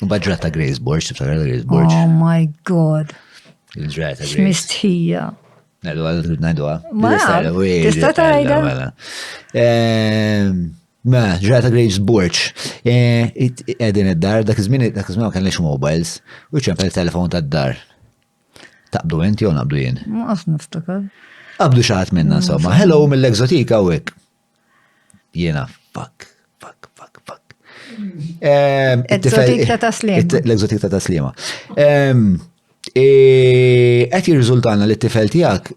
Badra ta' Grace Borg, tibsar ta' Grace Borg. Oh my god. Il-ġraja ta' Grace. Mistħija. Najdu għal, najdu għal. Ma, tista ta' għajda. Mela, ehm, mela, ġraja ta' Grace Borg. Eh, edin id-dar, dak iż-żmien, dak iż-żmien ma kellix mobiles, u ċempel il-telefon ta' dar. Taqbdu inti jew naqbdu jien? Ma qas niftakar. Qabdu xaħat minna, insomma. Hello mill-egzotika u hekk. Jiena fuck, fuck, fuck, fuck. L-egzotik ta' taslima. L-egzotik ta' taslima. Qed jirriżultana li t-tifel tiegħek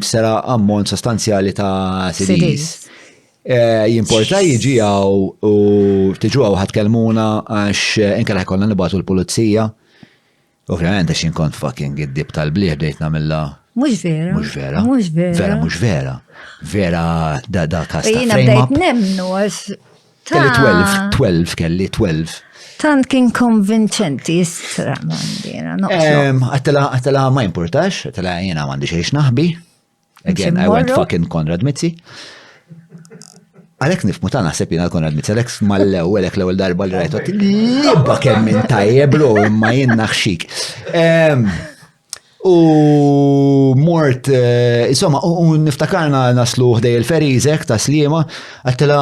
sera ammont sostanzjali ta' CDs. Eh, jimporta jiġi għaw u tiġu għaw ħatkellmuna għax eh, inkella ħajkonna nibatu l-pulizija. Ovvjament għax inkont fucking id-dib tal-bliħ bdejt namilla. Mux vera. Mux vera. Mux vera. Vera mux vera. Vera da da kasta. Jina bdejt nemnu għax. Kelli 12, 12, kelli 12. Tant kien konvinċenti jistra mandina. Għatela, għatela ma importax, għatela jina mandi xiex naħbi. Again, I went fucking Konrad Mizzi. Għalek nifmu ta' naħseb jina l-Konrad Mizzi, għalek mal-lew, għalek l-ewel darba li rajtu, libba kemm minn tajjeb lo, imma jien naħxik. U mort, eh, insomma, u niftakarna naslu ħdej il-ferizek ta' slima, għattela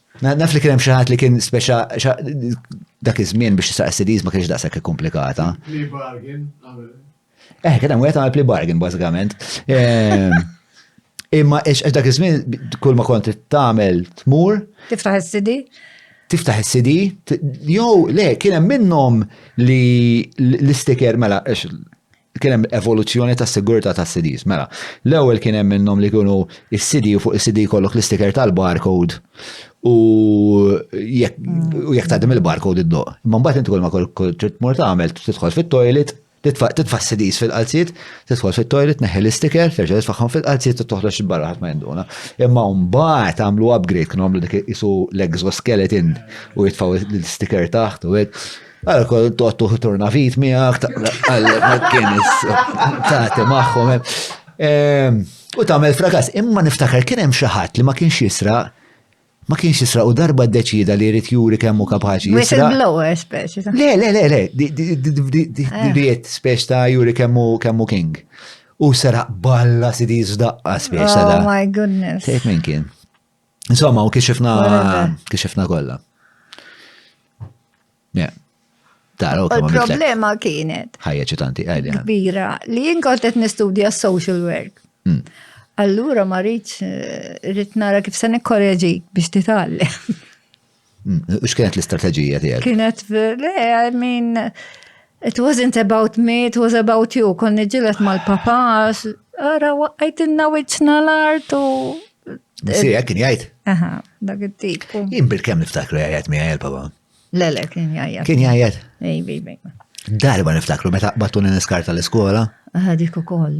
Naf li kien hemm xi ħadd li kien speċa dak iż-żmien biex tisaq CDs ma kienx daqshekk komplikata. Plea bargain. Eh, kien hemm wieħed għamel plea bargain bażikament. Ehm, imma ex dak iż-żmien kull ma kont tagħmel tmur. Tiftaħ is-CD? Tiftaħ is-CD, jew le kien hemm minnhom li l-istiker mela ex kien hemm evoluzzjoni ta' sigurtà ta' CDs. Mela, l-ewwel kien hemm minnhom li kienu is-CD u fuq is-CD kollok l-istiker tal-barcode u jekk tgħaddim il-barcode id-doq. Imma mbagħad inti kull ma trid tmur tagħmel tidħol fit-toilet, titfa' CDs fil-qalziet, tidħol fit-toilet, neħi l-istiker, terġa' titfagħhom fil-qalziet u toħroġ barra ħadd ma jinduna. Imma mbagħad għamlu upgrade kienu għamlu dik isu l-exoskeleton u jitfgħu l-istiker taħt u hekk. Għal kol toqtu turnavit miegħek għal kienis taħti magħhom. Ehm, u tagħmel frakas, imma niftakar kien hemm xi ħadd li ma kienx jisra ma kienx jisra u darba deċida li jrid juri kemm hu kapaċi. Whistleblower speċi. Le, le, le, le, diet eh. speċi ta' juri kemm hu king. U seraq balla sidi zdaqqa speċi. Oh my goodness. Tejt minn kien. Insomma, u kixifna kixifna kollha. Yeah. Tara, Il-problema kienet. Ħajja ċitanti, għajja. Kbira, li jien kont qed nistudja social work. Mm. Allura ma rridx eh, rrid nara kif se nikkoreġik biex titgħallem. X'kienet l-istrateġija tiegħek? Kienet le, I mean, it wasn't about me, it was about you. Konni ġilet mal-papa, ara waqqajtinna wiċċna l-art u. Si, hekk kien jgħid. Aha, dak it-tip. Jien bil-kemm niftakru jgħid mi għajja papa Le, le, kien jgħid. Kien jgħid? Ej, bej, bej. Darba niftakru meta qbattu niskarta l-iskola. Aha, dik ukoll.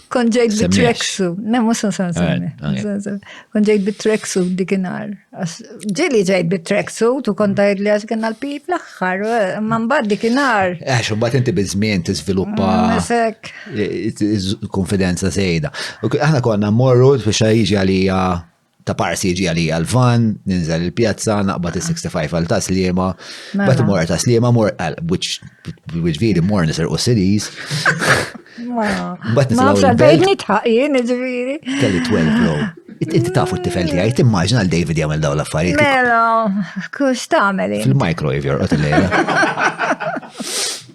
Kon ġejt bit-treksu, nemmu san san san. Kon ġejt bit-treksu dikinar. Ġili ġejt bit-treksu, tu kon tajt li għax kena l-pip l-axħar, man bad dikinar. Għax, un bat inti bizmien t-izviluppa. Mm, konfidenza sejda. Aħna konna morru fi xajġi għalija ta' parsi jiġi għalija l-van, ninżel il-pjazza, naqbad il-65 għal ta' slima, mela. bat mor ta' slima, mor għal, which viri mor nisir u sidis. Bat nisir għal bejt. Nitħaqin, ġviri. Kelli 12 bro. Inti tafu t-tifel ti għaj, timmaġna l-David jgħamil daw l-affarijiet. Mela, kux tameli. Fil-microwave jorqot il-lejla.